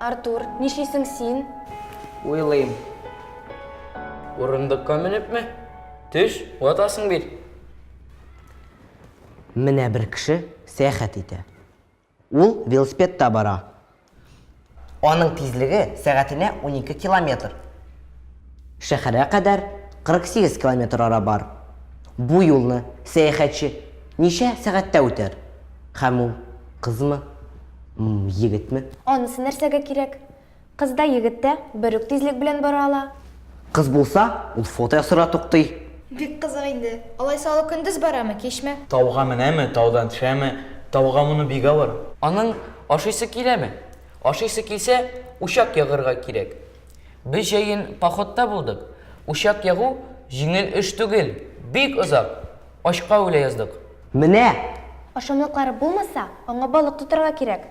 Артур, нишлисең син? Уйлыйм. Урындыкка менепме? Төш, ватасың бит. Менә бер кеше сәяхәт итә. Ул велосипедта бара. Аның тизлеге сәгатенә унике километр. Шәһәргә кадәр 48 километр ара бар. Бу юлны сәяхәтче ничә сәгатьтә үтәр? Һәм ул кызмы, егетме? Анысы нәрсәгә кирәк? Кыз да, егет тә бер үк тизлек белән бара ала. Кыз булса, ул фото ясарга туктый. Бик кызык инде. Алайса ул көндез барамы, кичме? Тауга менәме, таудан төшәме? Тауга мону бик авыр. Аның ашыйсы киләме? Ашыйсы килсә, учак ягырга кирәк. Без җәен походта булдык. Учак ягу җиңел эш түгел, бик озак. Ачка үлә яздык. Менә! Ашамлыклары булмаса, аңа балык тотарга кирәк.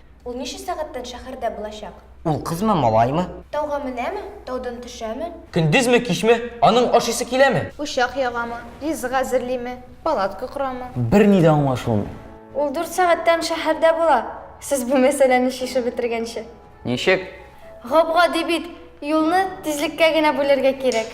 Ул ничә сәгатьтән шәһәрдә булачак? Ул кызмы, малаймы? Тауга менәме, таудан төшәме? Көндезме, кичме? Аның ашыйсы киләме? Учак ягамы, ризык әзерлиме, палатка корамы? Берни дә аңлашылмый. Ул дүрт сәгатьтән шәһәрдә була, сез бу мәсьәләне чишеп бетергәнче. Ничек? Гап-гади бит, юлны тизлеккә генә бүләргә кирәк.